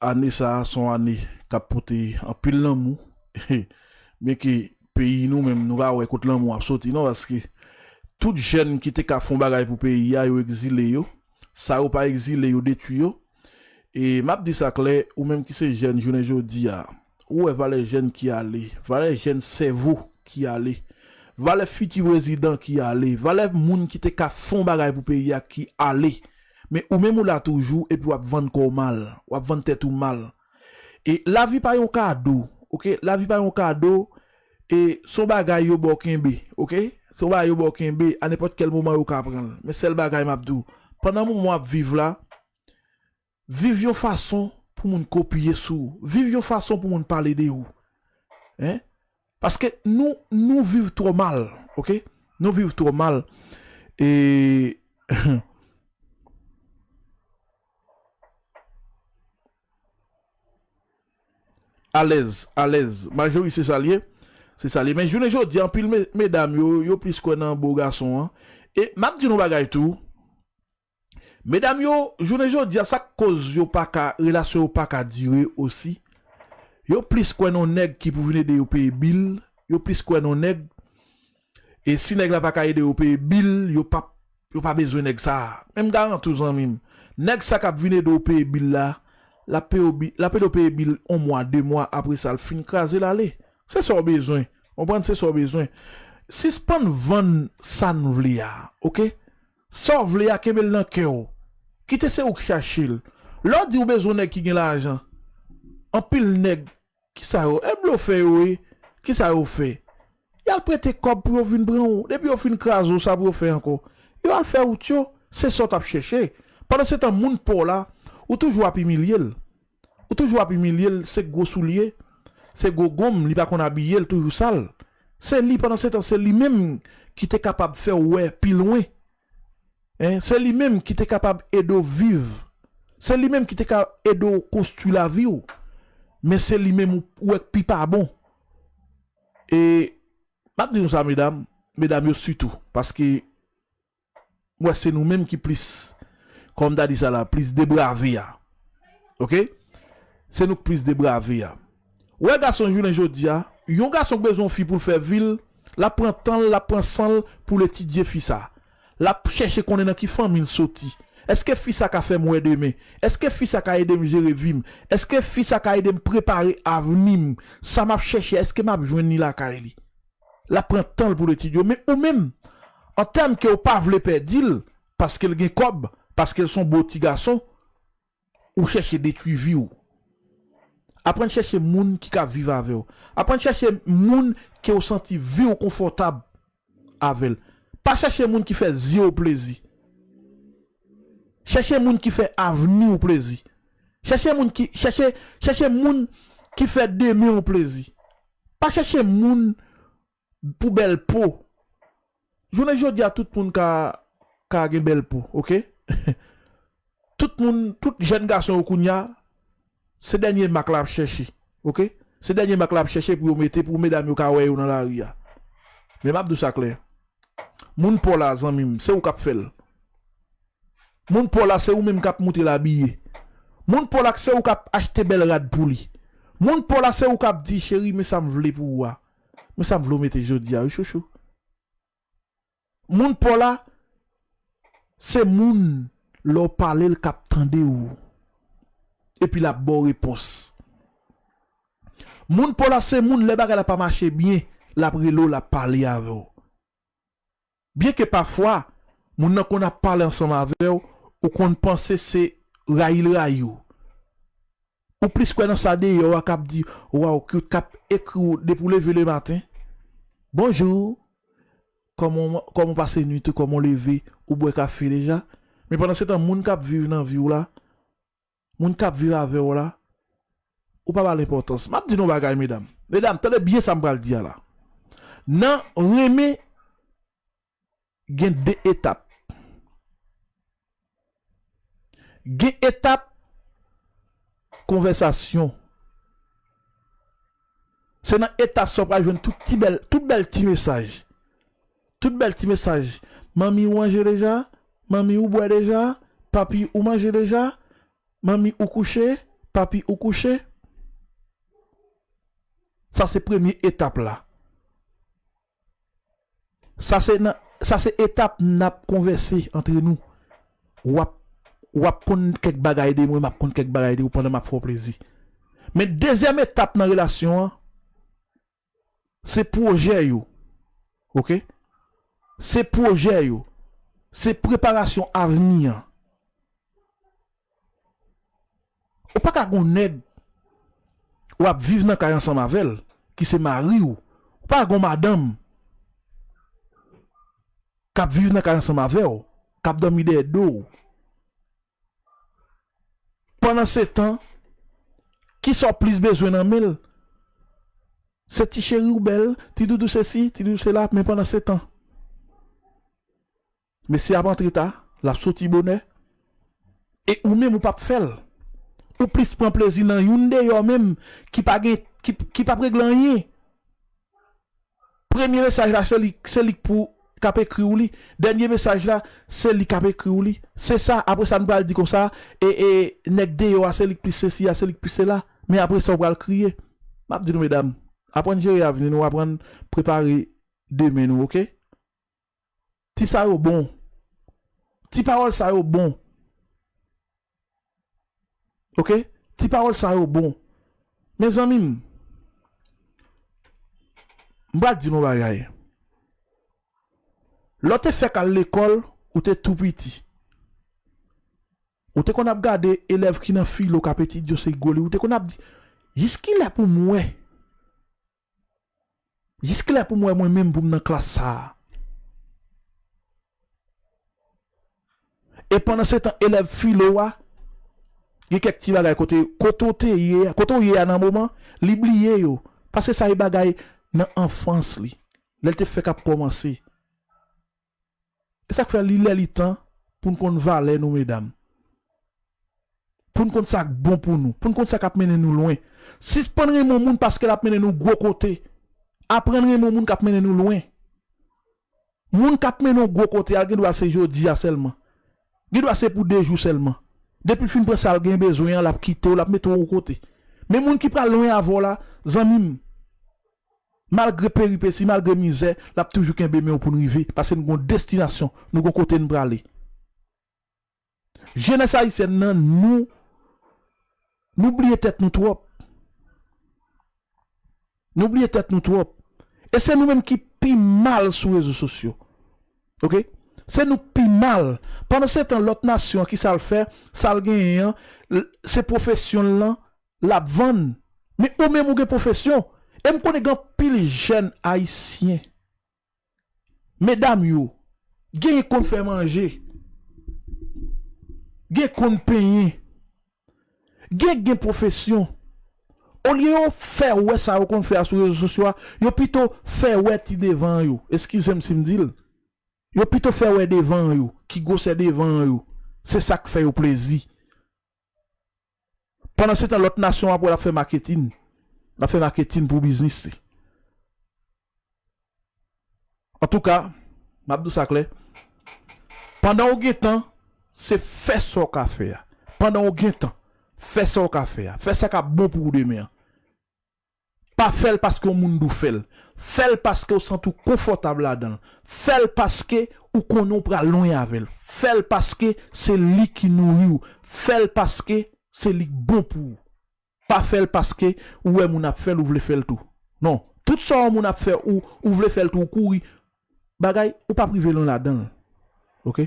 Ane sa a son ane kap pote anpil lanmou byen ke peyi nou menm nou pa wè kot lanmou ap soti non paske tout jèn ki te ka fon bagay pou peyi a yo egzile yo sa yo pa egzile yo detwi yo e map di sa klè ou menm ki se jèn jounen jodi a Ou wè valè jèn ki ale, valè jèn sèvo ki ale, valè fiti prezidan ki ale, valè moun ki te ka fon bagay pou peyi a ki ale. Men ou menm ou la toujou epi wap vann kò w mal, wap vann tèt ou mal. E lavi pa yon kado ok, lavi pa yon kado e son bagay yo ba w kenbe ok, son bagay yo ba w kenbe a nenpòt kèl moman yo ka pran l. Men sèl bagay map di w pandan moman wap viv la, Viv yon fason pou moun kopye sou ou. Viv yon fason pou moun pale de ou. Hein? Paske nou, nou viv twò mal. Ok? Nou viv twò mal. E. Hum. Alèz, alèz. Majori se sa l ye. Se sa l ye. Men jounen jodi a, anpil medam yo, yo plis kwè nan bo gason an. E m ap di nou yon bagay tou. Medam yo jounen jodia sak koz yo paka relasyon yo paka dire osi yo plis kwè nan nèg ki pou vin ede yo peye bil yo plis kwè nan nèg e si nèg la paka ede yo peye bil yo pap yo pa bezwen nèg sa men m garanti w zanmi m nèg sa kap vin ede w peye bil la lap peye w bil lap ede w peye bil on mwa de mwa apresa l fin kraze l ale se sa w bezwen w konprann se sa w bezwen sispann vann sa n vle a ok Sa w vle a kenbe l nan kè w. Kite se ou k chache l. Lè w di ou bezwen nèg ki gen lajan. Anpil nèg, kisa yo, e blofè yo ye, kisa yo fè? Y al prete kòb pou yo vin pran w. Depi yo fin kraze w, sa pou yo fè ankò? Yo al fè wout yo. Se sa w t ap chèche. Pandansetan moun pa w la, ou toujou ap imilye l. Ou toujou ap imilyel se gwo soulye se gwo gonm li pa konn abiye l toujou sal se li pandan setan se li menm ki te kapab fè w wè pi lwen hein se li menm ki te kapab ede w viv se li menm ki te ka ede w konstwi lavi w men se li menm ou wè k pi pa bon e map di nou sa medam medam yo sitou paske m wè se nou menm ki plis kòm ta di sa la plis debrave a ok se nou k plis debrave a ou wè gason jounen jodi a yon gason k bezwen yon fi pou l fè vi l l ap pran tan l l ap pran san l pou l etidye fi sa l ap chèche konnen nan ki fanmi l soti èske fi sa ka fè m wè demen èske fi sa ka ede m jere vi m èske fi sa ka ede m prepare avni m sa m ap chèche èske m ap jwenn li lakay li. Lap pran tanl poul etid yo men ou menm an tèm ke ou pa vle pèdil paskel gen kòb paskel son bo ti gason ou chèche detwi viw aprann chèche moun ki ka viv avèw aprann chèche moun ke ou santi viw konfòtab avèl pa chèche moun ki fè zyew plezi chèche moun ki fè avniw plezi chèche moun ki chèche chèche moun ki fè demenw plezi. Pa chèche moun pou bèl po jounen jodia tout moun ka ka gen bèl po ok tout moun tout jèn gason yo kounya se dènye mak la ap chèche ok se dènye mak la ap chèche pou yo mete pou medam yo ka wè yo nan lari a men map di w sa klè Moun paw la zanmim se ou kap fel Moun paw la se ou menm kap moutrel abiye Moun paw la se ou kap achte bel rad pou li Moun paw la se ou kap di cheri men sam vle pou ou a men sam vle ou mete jodia wi chouchou Moun paw la se moun lè ou palel kap tandew epi lap baw repons. Moun paw la se moun lè bagay la pa mache byen lap rele w lap pale avè w byen ke pafwa moun nan konn ap pale ansanm avè w ou konn panse se rayi l rayi w ou plis kwè nan sa deyò a kap di waw cute kap ekri w depi w leve le maten bonjour kòman w kòman w pase nwit ou kòman w leve ou bwè kafe deja men pandan se tan moun kap viv nan vi w la Moun kap viv avèw la ou pa bal enpòtans map di nou yon bagay medam medam tande byen sam pral di a la nan renmen gen 2 etap gen etap konvèsasyon se nan etap sa ou pral jwenn tout ti bèl tout bèl ti mesaj. Tout bèl ti mesaj Manmi ou manje deja? Manmi ou bwè deja? Papi ou manje deja? Manmi ou kouche? Papi ou kouche? Sa se premye etap la. Sa se nan Sa se etap n ap konvèse antre nou. W ap W ap konn kèk bagay de mwen, m ap konn kèk bagay de ou pandan m ap fè w plezi. Men dezyèm etap nan relasyon an. Se pwojè yo ok. Se pwojè yo. Se preparasyon avni an. Ou pa ka gen yon nèg w ap viv nan kay ansanm avè l ki se mari w. Ou pa ka gen yon madanm k ap viv nan kay ansanm avè w, k ap dòmi dèyè do w. Pandansetan, kisa w plis bezwen nan men l? Se ti cheri w bèl, ti doudou sesi, ti doudou sela, men pandansetan, mesye a ap antre ta, l ap soti bonè, e ou menm ou pa p fè l. Ou plis pran plezi nan youn deyò menm ki pa gen, ki pa p regle anyen. Premye mesaj la se li se li k pou k ap ekri w li dènye mesaj la se li k ap ekri w li se sa apre sa nou pral di konsa e e nèg deyò a se li k plis sesi a se li k plis sela men apre sa ou pral kriye m ap di nou medam aprann jere avni nou aprann prepare demen nou ok. Ti sa yo bon. Ti pawòl sa yo bon. Ok. Ti pawòl sa yo bon. Mezanmi m. M pral di nou yon bagay. Lè w te fèk al lekòl, ou te tou piti. Ou te konn ap gade elèv ki nan filo k ap etidye yo se gwo liv. Ou te konn ap di, Jiskilè pou m wè? Jis kilè pou m wè mwen menm pou m nan klas sa a? E pandansetan elèv filo a gen kèk ti bagay kote kote w te ye a, kote w ye a nan moman li bliye yo paske sa e bagay nan anfans li lè l te fèk ap kòmanse. E sak fè li lè li tan poun konn valè nou medam. Poun konn sak bon pou nou, poun konn sa kap mennen nou lwen. Sispann renmen yon moun paskel ap mennen nou gwo kote. Aprann renmen yon moun kap mennen nou lwen. Moun kap mennen w gwo kote a gendwa se jodi a sèlman. Gendwa se pou 2 jou sèlman. Depil fin pran sal gen bezwen an lap kitew lap metew yon kote. Men moun ki pral lwen avèw la zanmim Malgre peripesi, malgre mizè, l ap toujou kenbe men w pou n rive, paske n gen yon destinasyon, nou gen yon kote n prale. Jenès ayisyèn nan, nou, nou bliye tèt nou twòp. Nou bliye tèt nou twòp. E se nou menm ki pi mal sou rezo sosyo. Ok. Se nou k pi mal. Pandansetan, lòt nasyon an, ki sa l fè? Sa l genyen an, l, se pwofesyon l lan, lap vann men ou menm ou gen pwofesyon e m konnen gen anpil jèn ayisyen medam yo genyen k konn fè manje gen k konn penyen gen k gen pwofesyon olye yo fè wè sa yo konn fè a sou rezo sosyo a yo pito fè wè ti devan an yo eskize m si m di l yo pito fè wè devan an yo ki gwosè devan an yo se sa k fè yo plezi. Pandan se tan lòt nasyon wap wè lap fè maketin, lap fè maketin pou biznis li. Antouka, map di w sa klè, pandan ou gen tan, se fè sa w ka fè a. Pandan ou gen tan, fè sa w ka fè a. Fè sa kap bon pou ou demen an. Pa fè l paske yon moun di w fè l. Fè l paske w santi w konfòtab ladan l. Fè l paske ou konnen w pral lwen avè l. Fè l paske se li ki nouri w. Fè l paske se li k bon pou ou. Pa fè l paske ou wè moun ap fè l ou vle fè l tou. Non, tout sa yon moun ap fè ou, ou vle fè l tou ou kouri bagay ou pap rive lwen ladan l. Ok.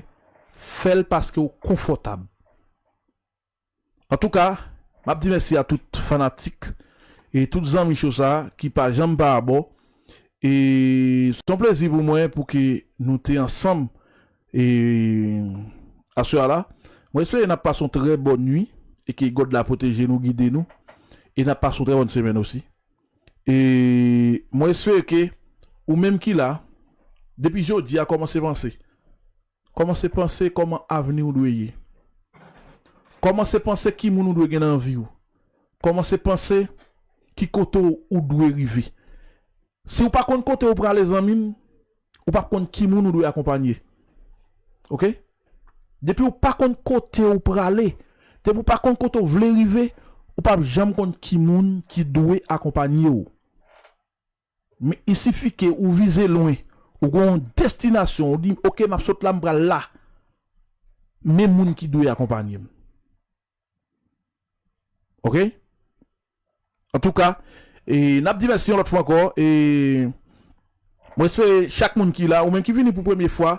Fè l paske w konfòtab. Antouka map di mèsi a tout fanatik e tout zanmi cho sa ki pa janm pa abò e son plezi pou mwen pou ke nou te ansanm e aswè la mwen espere nap pase yon trè bòn nwi e ke God la pwoteje nou gide nou e nap pase yon trè bòn semèn osi e mwen espere ke ou menm ki la depi jodi a kòmanse panse Kòmanse panse kòman avni w dwe ye. Kòmanse panse ki moun ou dwe gen nan vi w. Kòmanse panse ki kote ou dwe rive. Si ou pa konn kote ou prale zanmi m, ou pap konn ki moun ou dwe akonpanye. Ok. Depi ou pa konn kote ou prale, depi ou pa konn kote ou vle rive, ou pap janm konn ki moun ki dwe akonpanye w. Men isifike ou vize lwen, ou gen yon destinasyon, ou di ok map sot la m pral la, men moun ki dwe akonpanye m. Ok. Antouka, e nap di mèsi yon lòt fwa ankò e mwen espere chak moun ki la, ou menm ki vini pou premye fwa,